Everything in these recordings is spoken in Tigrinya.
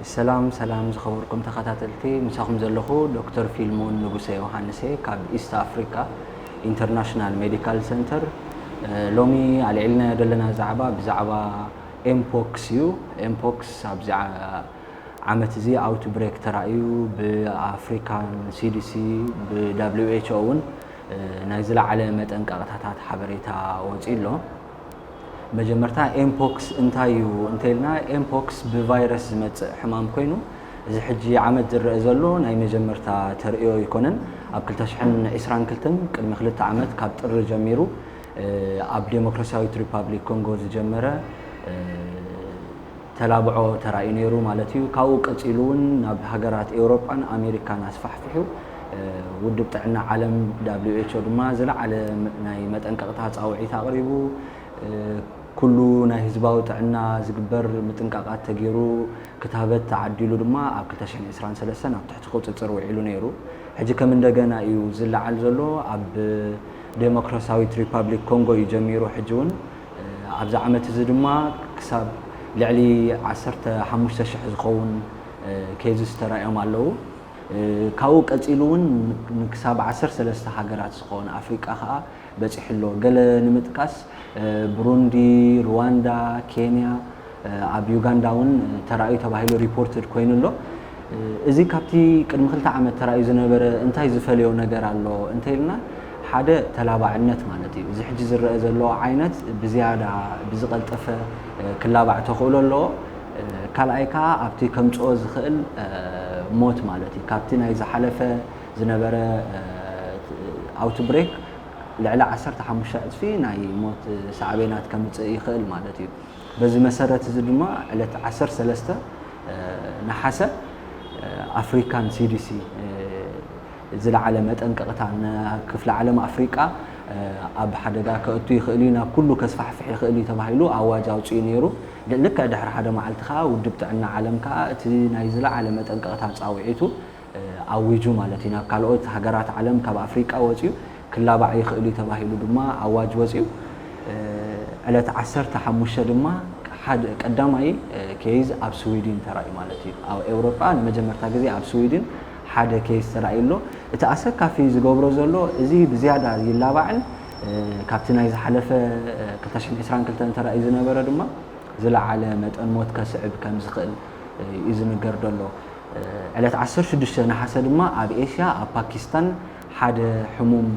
ሰላም ሰላም ዝኸበርኩም ተኸታተልቲ ምሳኹም ዘለኹ ዶክተር ፊልሞን ንጉሰ ዮሃንስ እየ ካብ ኢስት ኣፍሪካ ኢንተርናሽናል ሜዲካል ሰንተር ሎሚ ኣልዒልናዮ ዘለና ዛዕባ ብዛዕባ ኤምፖክስ እዩ ኤምፖክስ ኣብዚ ዓመት እዚ ኣውት ብሬክ ተራእዩ ብኣፍሪካን ሲዲሲ ብዳብሊው ኤችኦ እውን ናይ ዝለዓለ መጠንቀቕታታት ሓበሬታ ወፂኡ ኣሎ መጀመርታ ኤምፖክስ እንታይ እዩ እንተይልና ኤምፖክስ ብቫይረስ ዝመፅእ ሕማም ኮይኑ እዚ ሕጂ ዓመት ዝረኣ ዘሎ ናይ መጀመርታ ተርእዮ ኣይኮነን ኣብ ክልተ ሽሕን ዒስራን ክልተን ቅድሚ ክልተ ዓመት ካብ ጥሪ ጀሚሩ ኣብ ዴሞክራሲያዊት ሪፓብሊክ ኮንጎ ዝጀመረ ተላብዖ ተራእዩ ነይሩ ማለት እዩ። ካብኡ ቀጺሉ እውን ናብ ሃገራት ኤውሮጳን ኣሜሪካን ኣስፋሕፊሑ። ውድብ ጥዕና ዓለም፣ WHO፣ ድማ ዝለዓለ ናይ መጠንቀቕታ ጻውዒት ኣቕሪቡ። ኩሉ ናይ ህዝባዊ ጥዕና ዝግበር ምጥንቃቓት ተገይሩ፣ ክታበት ተዓዲሉ ድማ ኣብ ክልተ ሽሕን ዕስራን ሰለስተን ኣብ ትሕቲ ቁጽጽር ውዒሉ ነይሩ። ሕጂ ከም እንደገና እዩ ዝለዓል ዘሎ። ኣብ ደሞክራስያዊት ሪፓብሊክ ኮንጎ እዩ ጀሚሩ፣ ሕጂ እውን ኣብዚ ዓመት እዚ ድማ ክሳብ ልዕሊ ዓሰርተ ሓሙሽተ ሽሕ ዝኸውን ኬዝስ ተራእዮም ኣለዉ። ካብኡ ቀጺሉ እውን ንክሳብ ዓሰርተ ሰለስተ ሃገራት ዝኾን ኣፍሪቃ ከኣ በጺሑ ኣሎ። ገለ ንምጥቃስ ብሩንዲ፣ ርዋንዳ፣ ኬንያ፣ ኣብ ዩጋንዳ እውን ተራእዩ ተባሂሉ ሪፖርትድ ኮይኑ ኣሎ። እዚ ካብቲ ቅድሚ ክልተ ዓመት ተራእዩ ዝነበረ እንታይ ዝፈለዮ ነገር ኣሎ እንተይልና ሓደ ተላባዕነት ማለት እዩ። እዚ ሕጂ ዝረአ ዘሎ ዓይነት ብዝያዳ ብዝቐልጠፈ ክላባዕ ተኽእሎ ኣለዎ። ካልኣይ ከዓ ኣብቲ ከምፅኦ ዝኽእል ሞት ማለት እዩ። ካብቲ ናይ ዝሓለፈ ዝነበረ ኣውትብሬክ ልዕሊ ዓሰርተ ሓሙሽተ ዕፅፊ ናይ ሞት ሳዕቤናት ከምፅእ ይኽእል ማለት እዩ። በዚ መሰረት እዚ ድማ ዕለት ዓሰርተ ሰለስተ ነሓሰ ኣፍሪካን ሲዲሲ ዝለዓለ መጠንቀቕታ ንክፍለ ዓለም ኣፍሪቃ ኣብ ሓደጋ ከእቱ ይኽእል እዩ፣ ናብ ኩሉ ከስፋሕፍሕ ይኽእል እዩ ተባሂሉ ኣዋጅ ኣውጺኡ ነይሩ። ልክዕ ድሕሪ ሓደ መዓልቲ ከኣ ውድብ ጥዕና ዓለም ከኣ እቲ ናይ ዝለዓለ መጠንቀቕታ ጻውዒቱ ኣዊጁ ማለት እዩ። ናብ ካልኦት ሃገራት ዓለም ካብ ኣፍሪቃ ወጺኡ ክላባዕ ይኽእል እዩ ተባሂሉ ድማ ኣዋጅ ወጺኡ። ዕለት ዓሰርተ ሓሙሽተ ድማ ሓደ ቀዳማይ ኬዝ ኣብ ስዊድን ተራእዩ ማለት እዩ። ኣብ ኤውሮጳ ንመጀመርታ ግዜ ኣብ ስዊድን ሓደ ኬዝ ተራእዩ ኣሎ። እቲ ኣሰካፊ ዝገብሮ ዘሎ እዚ ብዝያዳ ይላባዕን ካብቲ ናይ ዝሓለፈ ክልተ ሽሕን ዕስራን ክልተን ተራእዩ ዝነበረ ድማ ዝለዓለ መጠን ሞት ከስዕብ ከምዝኽእል እዩ ዝንገር ዘሎ። ዕለት ዓሰርተ ሽዱሽተ ነሓሰ ድማ ኣብ ኤሽያ ኣብ ፓኪስታን ሓደ ሕሙም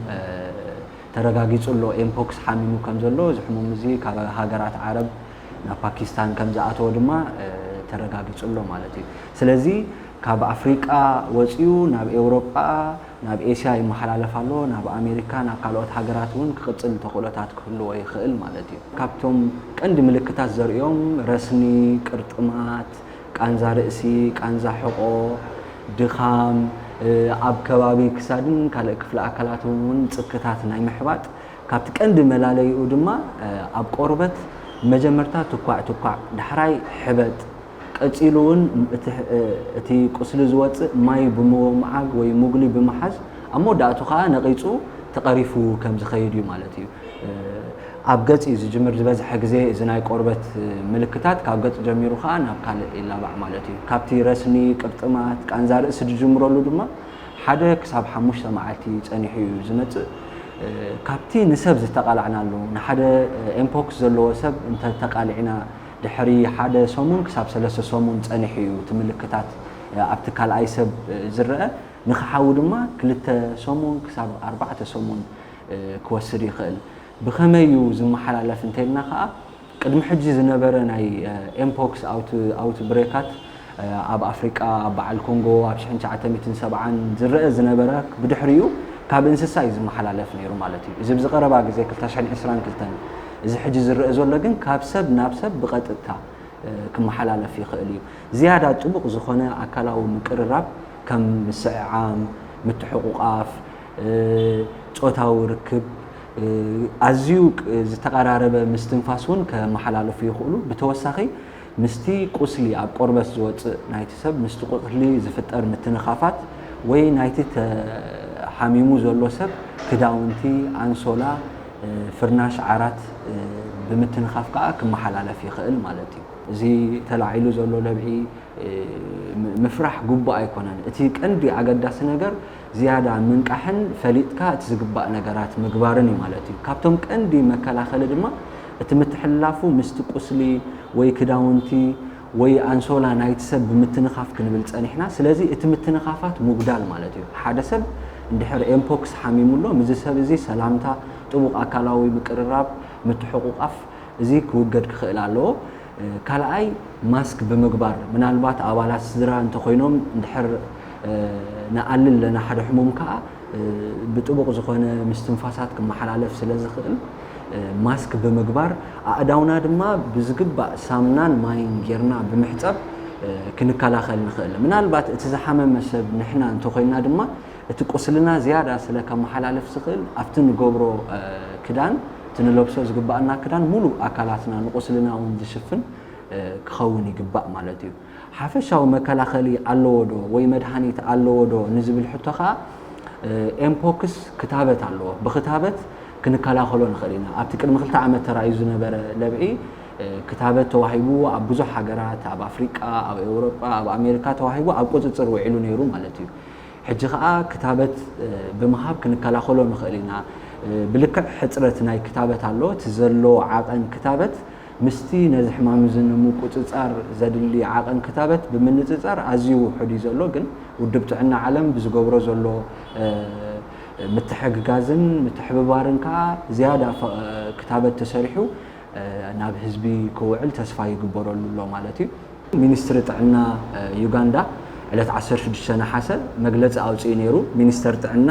ተረጋጊጹ ኣሎ፣ ኤምፖክስ ሓሚሙ ከም ዘሎ፣ እዚ ሕሙም እዚ ካብ ሃገራት ዓረብ ናብ ፓኪስታን ከም ዝኣተወ ድማ ተረጋጊጹ ኣሎ ማለት እዩ። ስለዚ ካብ ኣፍሪቃ ወጺኡ ናብ ኤውሮጳ ናብ ኤስያ ይመሓላለፍ ኣሎ፣ ናብ ኣሜሪካ ናብ ካልኦት ሃገራት እውን ክቕጽል ተኽእሎታት ክህልዎ ይኽእል ማለት እዩ። ካብቶም ቀንዲ ምልክታት ዘርእዮም ረስኒ፣ ቅርጥማት፣ ቃንዛ ርእሲ፣ ቃንዛ ሕቖ፣ ድኻም፣ ኣብ ከባቢ ክሳድን ካልእ ክፍሊ ኣካላትን እውን ጽክታት ናይ ምሕባጥ፣ ካብቲ ቀንዲ መላለይኡ ድማ ኣብ ቆርበት መጀመርታ ትኳዕ ትኳዕ፣ ዳሕራይ ሕበጥ፣ ቀጺሉ እውን እቲ ቁስሊ ዝወጽእ ማይ ብምውምዓግ ወይ ሙግሊ ብምሓዝ ኣብ መወዳእቱ ከኣ ነቒጹ ተቐሪፉ ከም ዝኸይድ እዩ ማለት እዩ። ኣብ ገጽ እዩ ዝጅምር፣ ዝበዝሐ ግዜ እዚ ናይ ቆርበት ምልክታት ካብ ገጽ ጀሚሩ ከኣ ናብ ካልእ ይላባዕ ማለት እዩ። ካብቲ ረስኒ፣ ቅርጥማት፣ ቃንዛ ርእሲ ዝጅምረሉ ድማ ሓደ ክሳብ ሓሙሽተ መዓልቲ ጸኒሑ እዩ ዝመጽእ። ካብቲ ንሰብ ዝተቓላዕናሉ፣ ንሓደ ኤምፖክስ ዘለዎ ሰብ እንተ ተቓሊዕና ድሕሪ ሓደ ሰሙን ክሳብ ሰለስተ ሰሙን ጸኒሑ እዩ እቲ ምልክታት ኣብቲ ካልኣይ ሰብ ዝረኣ። ንኽሓዊ ድማ ክልተ ሰሙን ክሳብ ኣርባዕተ ሰሙን ክወስድ ይኽእል። ብኸመይ እዩ ዝመሓላለፍ እንተይልና ከኣ ቅድሚ ሕጂ ዝነበረ ናይ ኤምፖክስ ኣውትብሬካት ኣብ ኣፍሪቃ ኣብ በዓል ኮንጎ ኣብ ሽሕን ትሽዓተ ሚእትን ሰብዓን ዝረኣ ዝነበረ ብድሕሪኡ ካብ እንስሳ እዩ ዝመሓላለፍ ነይሩ ማለት እዩ። እዚ ኣብዚ ቀረባ ግዜ ክልተ ሽሕን ዕስራን ክልተን እዚ ሕጂ ዝረኣ ዘሎ ግን ካብ ሰብ ናብ ሰብ ብቐጥታ ክመሓላለፍ ይኽእል እዩ። ዝያዳ ጥቡቕ ዝኾነ ኣካላዊ ምቅርራብ ከም ምስዕዓም፣ ምትሕቑቛፍ፣ ጾታዊ ርክብ ኣዝዩ ዝተቐራረበ ምስትንፋስ እውን ከመሓላለፉ ይኽእሉ። ብተወሳኺ ምስቲ ቁስሊ ኣብ ቆርበት ዝወጽእ ናይቲ ሰብ ምስቲ ቁስሊ ዝፍጠር ምትንኻፋት ወይ ናይቲ ተሓሚሙ ዘሎ ሰብ ክዳውንቲ፣ ኣንሶላ፣ ፍርናሽ፣ ዓራት ብምትንኻፍ ከኣ ክመሓላለፍ ይኽእል ማለት እዩ። እዚ ተላዒሉ ዘሎ ለብዒ ምፍራሕ ግቡእ ኣይኮነን። እቲ ቀንዲ ኣገዳሲ ነገር ዝያዳ ምንቃሕን ፈሊጥካ እቲ ዝግባእ ነገራት ምግባርን እዩ ማለት እዩ። ካብቶም ቀንዲ መከላኸሊ ድማ እቲ ምትሕልላፉ ምስቲ ቁስሊ ወይ ክዳውንቲ ወይ ኣንሶላ ናይቲ ሰብ ብምትንኻፍ ክንብል ጸኒሕና። ስለዚ እቲ ምትንኻፋት ምጉዳል ማለት እዩ። ሓደ ሰብ እንድሕር ኤምፖክስ ሓሚሙ ኣሎ ምስዚ ሰብ እዚ ሰላምታ፣ ጥቡቕ ኣካላዊ ምቅርራብ፣ ምትሕቑቛፍ እዚ ክውገድ ክኽእል ኣለዎ። ካልኣይ ማስክ ብምግባር ምናልባት ኣባላት ስድራ እንተኾይኖም እንድሕር ንኣሊ ኣለና ሓደ ሕሙም ከዓ ብጥቡቕ ዝኾነ ምስትንፋሳት ክመሓላለፍ ስለ ዝኽእል ማስክ ብምግባር ኣእዳውና ድማ ብዝግባእ ሳምናን ማይን ጌርና ብምሕፀብ ክንከላኸል ንኽእል ምናልባት እቲ ዝሓመመ ሰብ ንሕና እንተኾይንና ድማ እቲ ቁስልና ዝያዳ ስለ ከመሓላልፍ ዝኽእል ኣብቲ ንገብሮ ክዳን እቲ ንለብሶ ዝግበኣና ክዳን ሙሉእ ኣካላትና ንቁስልና እውን ዝሽፍን ክኸውን ይግባእ ማለት እዩ። ሓፈሻዊ መከላኸሊ ኣለዎ ዶ ወይ መድሃኒት ኣለዎ ዶ ንዝብል ሕቶ ከኣ ኤምፖክስ ክታበት ኣለዎ። ብኽታበት ክንከላኸሎ ንኽእል ኢና። ኣብቲ ቅድሚ ክልተ ዓመት ተራእዩ ዝነበረ ለብዒ ክታበት ተዋሂብዎ ኣብ ብዙሕ ሃገራት ኣብ ኣፍሪቃ፣ ኣብ ኤውሮጳ፣ ኣብ ኣሜሪካ ተዋሂቡ ኣብ ቁጽጽር ውዒሉ ነይሩ ማለት እዩ። ሕጂ ከኣ ክታበት ብምሃብ ክንከላኸሎ ንኽእል ኢና። ብልክዕ ሕጽረት ናይ ክታበት ኣሎ፣ እቲ ዘሎ ዓቐን ክታበት ምስቲ ነዚ ሕማም እዚ ንምቁጽጻር ዘድሊ ዓቐን ክታበት ብምንጽጻር ኣዝዩ ውሑድ እዩ ዘሎ፣ ግን ውድብ ጥዕና ዓለም ብዝገብሮ ዘሎ ምትሕግጋዝን ምትሕብባርን ከኣ ዝያዳ ክታበት ተሰሪሑ ናብ ህዝቢ ክውዕል ተስፋ ይግበረሉ ኣሎ ማለት እዩ። ሚኒስትሪ ጥዕና ዩጋንዳ ዕለት ዓሰርተ ሽዱሽተ ነሓሰ መግለፂ ኣውፂኡ ነይሩ። ሚኒስተር ጥዕና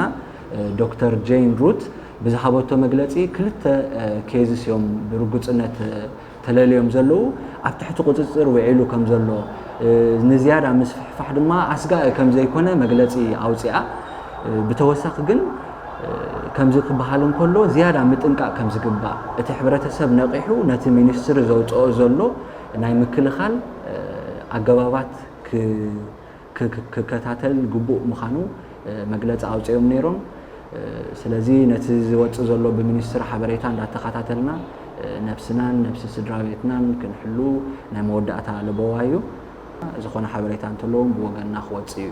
ዶክተር ጄይን ሩት ብዝሃበቶ መግለፂ ክልተ ኬዝስ እዮም ብርጉፅነት ተለልዮም ዘለዉ፣ ኣብ ትሕቲ ቁፅፅር ውዒሉ ከምዘሎ ንዝያዳ ምስፍሕፋሕ ድማ ኣስጋኢ ከምዘይኮነ መግለፂ ኣውፂኣ። ብተወሳኺ ግን ከምዚ ክበሃል እንከሎ ዝያዳ ምጥንቃቕ ከም ዝግባእ፣ እቲ ሕብረተሰብ ነቒሑ ነቲ ሚኒስትሪ ዘውጸኦ ዘሎ ናይ ምክልኻል ኣገባባት ክከታተል ግቡእ ምዃኑ መግለጺ ኣውጺኦም ነይሮም። ስለዚ ነቲ ዝወጽእ ዘሎ ብሚኒስትሪ ሓበሬታ እንዳተኸታተልና ነብስናን ነብሲ ስድራቤትናን ክንሕሉ ናይ መወዳእታ ለበዋ እዩ። ዝኾነ ሓበሬታ እንተለዎም ብወገንና ክወጽእ እዩ።